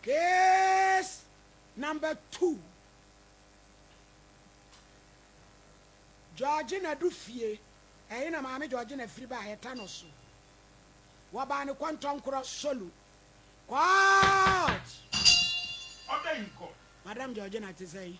Case number two, Georgina du fie, ɛhe na maame Georgina firi baa yɛ ta no so. Wɔbaa ne kɔntɔnkorɔ solo. Court! Madam Georgina te sɛ yi.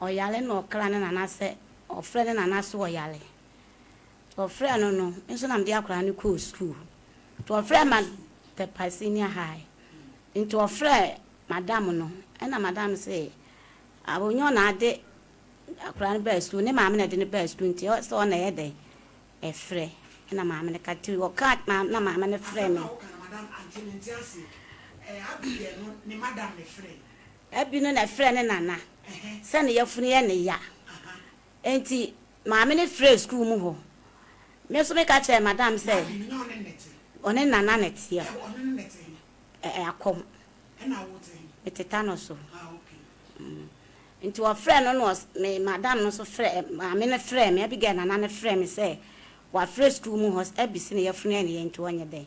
ɔyare na ɔkra ne nana sɛ ɔfrɛ ne nana sɛ ɔyare. Nti ɔfrɛɛ no no, me nso na mede akwadaa no kɔɔ sukuu. Nti ɔfrɛɛ ma Tepae Senior High. Nti ɔfrɛɛ madam no, ɛna madam se ɔnyɛ ɔna ade akwadaa no baa sukuu, ne maame na ɛde no baa sukuu nti sɛ ɔna ɛyɛ dɛn ɛfrɛ. Ɛna maame no ka nti ɔkaa maame na maame no frɛɛ me. Ɛna ɔka no madam ante mente aseɛ. Ɛɛ Abigail no ne madam na ɛfrɛɛ. Ɛbi no na ɛfrɛ ne nana sɛ ne yafunu yɛ ne ya nti maame no frɛɛ sukuu mu hɔ. Me nso me ka kyerɛɛ madam sɛ ɔne nana na ɛteɛ ɛɛ akɔm me tetanus o nti ɔfrɛɛ no na me madam no nso frɛ maame no frɛɛ me Abigail nana no frɛɛ me sɛ wafrɛ sukuu mu hɔ sɛ ɛbi se ne yafunu yɛ ne ya nti ɔnyɛ dɛn.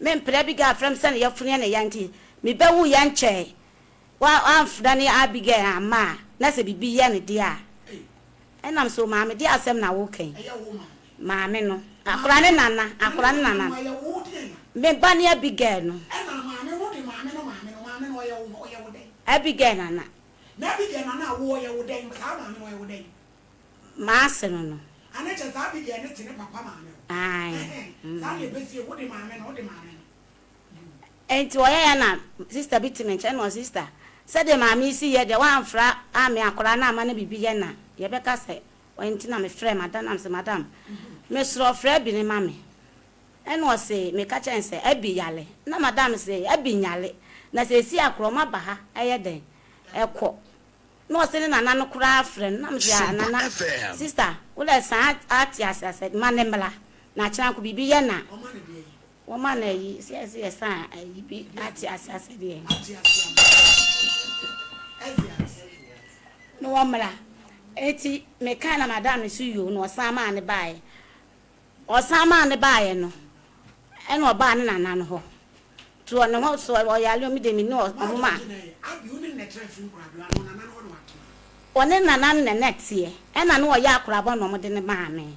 Me mpena Abigail afrɛ me sɛ ne yɛfunu yɛ ne ya nti me bɛ wu yɛ nkyɛɛ wa anfena ne Abigail amma a na sɛ bibi yɛ no deɛ a ɛnam so maame deɛ asɛm na wo kɛn maame no akora ne nana akora ne nana me ba ne Abigail no Abigail nana. Maase no no. A na kyɛ saa Abigail no te ne papa maame hɔ. Ae. Ɛhɛn, saa deɛ bɛsi yɛ, wo de maame no, wo de maame no. Good. Enti ɔyɛeɛ a na sister bi te me nkyɛn, ɛna ɔse, Sister, sɛdeɛ maame yi si yɛ deɛ, woamfra ammea akwadaa no amma no biribi yɛ na yɛbɛka sɛ wai nti na mefrɛɛ madam no, na mese, Madam, mesrɛ wo frɛ Abi no ma me. Ɛna ɔse, Meka kyerɛɛ no sɛ Abi yale. Na madam se, Abi nyale, na seesei a koraa ɔmaba ha, ɛyɛ dɛn? Ɛkɔ. Na ɔse ne nana no koraa frɛ no na mese ah nana sister wolɛ san ate ase asɛ ma ne mmra na akyena nko biribi yɛ na wɔma no ayi sɛ ɛse yɛ san ayi bi ate ase asɛ deɛ na wɔmmra eti me kae na madam no so yoo na ɔsan maa no baaɛ Ɔsan maa no baeɛ no, ɛna ɔbaa ne nana no hɔ, too ne ho so, ɔyare o, me deɛ menni ɔmo ma. Ɔne nana no na na ɛteɛ, ɛna na ɔyɛ akoraba na ɔmo de no maa me.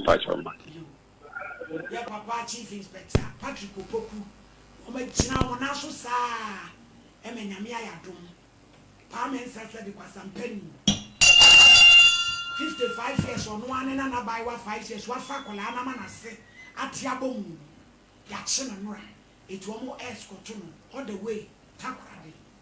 mpakyɛw ma. Yɛ papa chief inspector Patrick Opoku wɔn agyina wɔn nan so saa ɛma Nyame ayɛ adom paa mensɛ sɛ de kwasampa ni fifty five years ɔno ara ne nana abaayewa five years wafa akwadaa no ama nase ate abɔ mu no yakye no nora eti wɔn ɛskɔto no all the way Takoradi.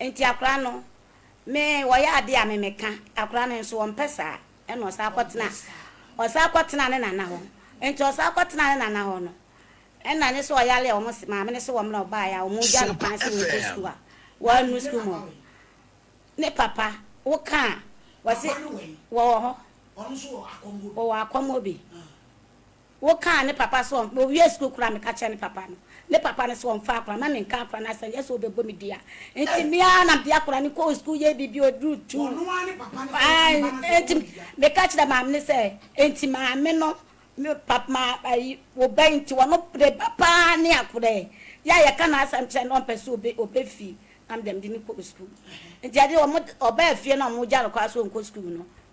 Nti akora no me wɔyɛ adeɛ a me meka akora no nso ɔmpɛ saa ɛna ɔsan kɔtena ɔsan kɔtena ne nana hɔ nti ɔsan kɔtena ne nana hɔ no ɛna nye sɛ ɔyale a wɔn se maame no se wɔn na ɔbaeɛ a wɔn gya no kwan se wɔn kɔ sukuu a wɔannu sukuu mu hɔ ne papa woka a wɔse wɔwɔ hɔ wɔwɔ akɔmmɔ bi. Wo kaa ne papa sɛ ɔn owie sukuu koraa me ka kyerɛ ne papa no ne papa no sɛ ɔnfa akora ma me nka akora no asɛm nyɛ sɛ ɔbɛbɔ me dua nti me ara na mede akora no kɔɔ sukuu yɛɛ biribi ɔduru two nti me ka kyerɛ maame no sɛ nti maame no me papa ma ayi wo bɛn nti wɔno ne ba paa ne akora yi yɛ a yɛka na asɛm kyerɛ no ɔmpɛ sɛ ɔbɛ ɔbɛ fie na mede mede no kɔɔ sukuu nti ɛde ɔmo ɔbaa fie na ɔmo gya no koraa sɛ ɔnkɔ sukuu no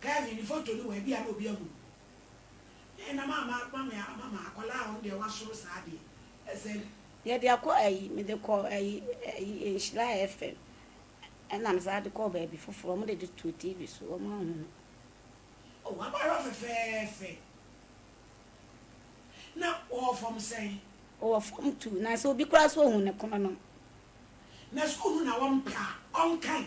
Kevin ne photo no wɔ ha bi a na obi ahu no na ɛna ma ma ma me ama ma akwadaa a ɔno deɛ wasoro saa deɛ ɛsɛ. Yɛde akɔ ayi mede kɔ ayi ayi nhyira FM ɛna me saa de kɔ baabi foforɔ wɔn de de too TV so wɔn ahu no. Oh w'abaayewa fɛfɛɛfɛ na ɔwɔ fam sɛn? Ɔwɔ fam two na sɛ obi koraa so ohun ne kono no. Na sukuu no na wɔn pɛ a ɔnkan.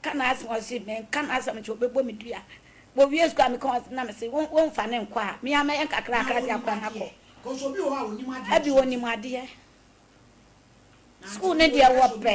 Ka n'asɛm a, ɔse menka n'asɛm nkyɛ ɔbɛbɔ me dua. Wɔwie sukuu a meka wɔn asɛm na mese wo womfa no nkɔ a, me ara mɛyɛ nkakrakra de akɔ no akɔ. Ɛbi ɔnim adeɛ. Sukuu no deɛ wɔpɛ.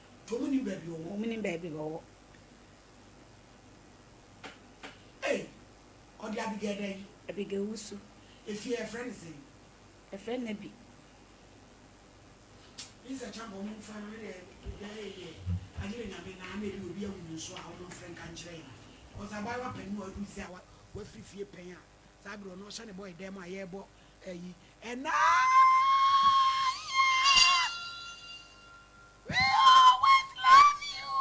Tomunim baabi ɔwɔ. Wɔnim baabi ɔwɔ. Ei, ɔde Abigail da yi. Abigail wusu. Efie a yɛfrɛ no sɛn? Yɛfrɛ no Nabi. Minsa Champon mo mfa no ne deɛ ɛyɛ yɛ agye ne Nyame na ana ebi obi awu no nso a wɔn mfrɛ nka nkyerɛ yɛn cause abaayewa panyin a waduru sɛ a wafiri fie pɛn a. Saa bere ɔno ɔhyɛne bɔe dɛm a yɛrebɔ ayi ɛna yɛ we always love you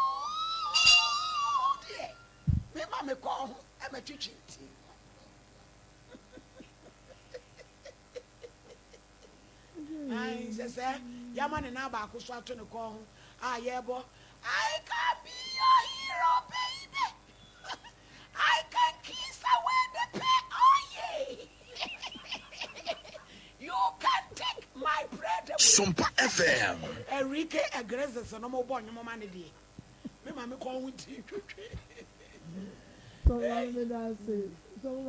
deɛ me ma me kɔn ho ɛmɛtwetwe nti Ae, sɛ sɛ yɛama ne nan baako so ato ne kɔn ho a yɛrebɔ I can be your hero baby I can kiss away the pain oh yeah You can take my breath away Sompa FM Enrique Iglesias no mo bɔ nnwom ma ne deɛ me ma me kɔn ho nti twetwe Sɛ wɔn ne da ase, sɛ wɔn